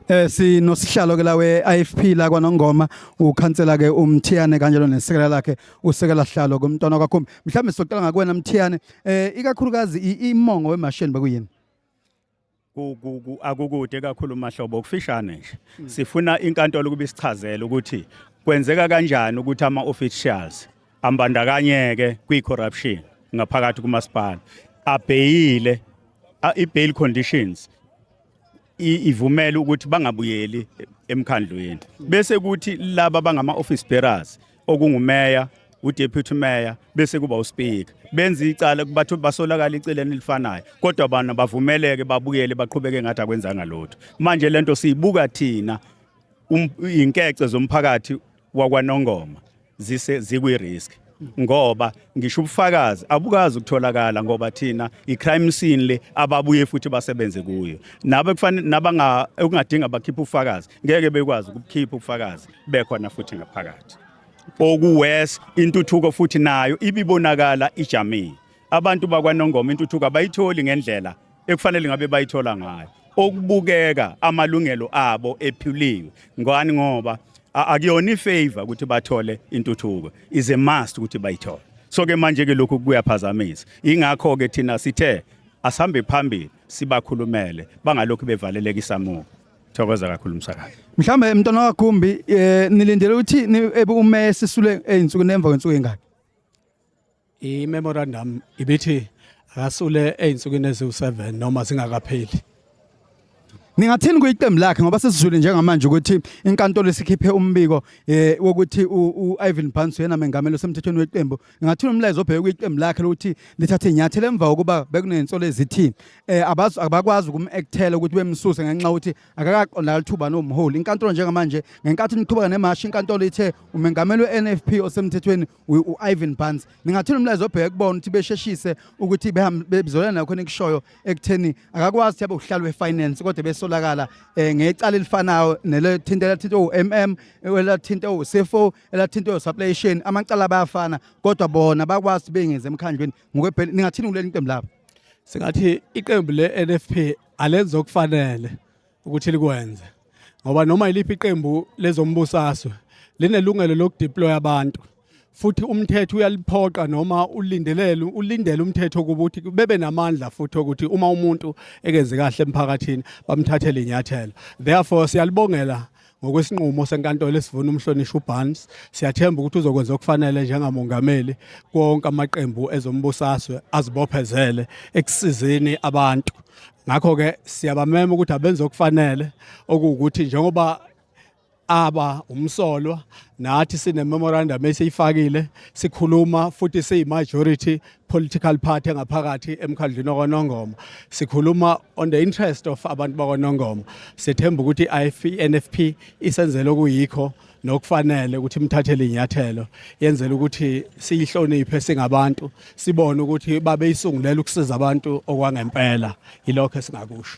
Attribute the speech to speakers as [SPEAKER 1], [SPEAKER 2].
[SPEAKER 1] Eh sinosihlalo ke la we IFP la kwaNongoma ukhansela ke uMthiyane kanjalo nesekela lakhe usekela hlalo kumntwana kwakho mhlawumbe sicela ngakuwena Mthiyane eh ikakhulukazi imongo wemashini bekuyini
[SPEAKER 2] akukude kakhulu mahlobo kufishane nje hmm. sifuna inkantolo ukuba isichazele ukuthi kwenzeka kanjani ukuthi ama officials ambandakanyeke kwi corruption ngaphakathi kumasipala abheyile i bail conditions ivumela ukuthi bangabuyeli emkhandlwini bese kuthi laba bangama office bearers okungumeya udeputy mayor bese kuba uspeaker benza icala kubathu basolakala iceleni elifanayo kodwa abantu bavumeleke babuyele baqhubeke ngathi akwenzanga lutho manje lento siyibuka thina um, inkece zomphakathi wakwanongoma zise zikwi-risk ngoba ngisho ubufakazi abukazi ukutholakala ngoba thina i-crime scene le ababuye futhi basebenze kuyo nabe kufanele nabanga okungadinga bakhiphe ubufakazi ngeke bekwazi ukukhipha ubufakazi bekhona futhi ngaphakathi okuwes intuthuko futhi nayo ibibonakala ijamile abantu bakwanongoma intuthuko abayitholi ngendlela ekufanele ngabe bayithola ngayo okubukeka amalungelo abo ephuliwe ngani ngoba akuyona ifavor ukuthi bathole intuthuko is a must ukuthi bayithole so ke manje ke lokhu kuyaphazamisa ingakho ke thina sithe asihambe phambili sibakhulumele bangalokhu bevaleleka isamuko thokoza kakhulu msakazi mhlambe mntwana
[SPEAKER 1] wakhumbi eh nilindele ukuthi ebe uMessi sule ezinsuku nemva kwensuku engaki I-memorandum
[SPEAKER 3] ibithi akasule ezinsukwini eziwu-7 noma zingakapheli
[SPEAKER 1] Ningathini kuyiqembu lakhe ngoba sesizwile njengamanje ukuthi inkantolo isikhiphe umbiko eh wokuthi uIvan Barnes yena mengameli osemthethweni weqembu. Ningathini umlayezo obheke kuyiqembu lakhe lokuthi lithathe inyathelo emva kokuba bekunensolo ezithi eh abazi abakwazi ukumactela ukuthi bemsuse ngenxa ukuthi akakaqonda lithuba nomholi. Inkantolo njengamanje ngenkathi niqhubeka nemashi inkantolo ithe umengameli weNFP osemthethweni u-Ivan Barnes ningathula umlayezo obheke kubona ukuthi besheshise ukuthi bezolana nakho nikushoyo ekutheni akakwazi ukuthi abe uhlalo wefinance kodwa besolakala eh, ngecala elifanayo nelethinta elathinta u-MM elathinta u-CFO elathinta u-supply chain amacala bayafana kodwa bona bakwazi ukuthi bengenze emkhandlweni ngokwebheli ningathini kuleli iqembu labo singathi
[SPEAKER 3] iqembu le-NFP alenza okufanele ukuthi likwenze ngoba noma yiliphi iqembu lezombusazwe linelungelo lokudeploya abantu futhi umthetho uyaliphoqa noma ulindelele ulindele umthetho ukuthi bebe namandla futhi ukuthi uma umuntu ekenze kahle emphakathini bamthathele inyathelo therefore siyalibongela ngokwesinqumo senkantolo esivuna umhlonishwa uBarnes siyathemba ukuthi uzokwenza okufanele njengamongameli konke amaqembu ezombusaswe azibophezele ekusizeni abantu ngakho ke siyabamema ukuthi abenze okufanele okuwukuthi njengoba aba umsolwa nathi sine memorandum esiyifakile sikhuluma futhi siyi majority political party engaphakathi emkhandlwini wakwaNongoma sikhuluma on the interest of abantu bakwaNongoma sethemba ukuthi i-NFP isenzele okuyikho nokufanele ukuthi imthathele inyathelo yenzela ukuthi siyihloniphe singabantu sibone ukuthi babeyisungulela ukusiza abantu okwangempela yilokho esingakusho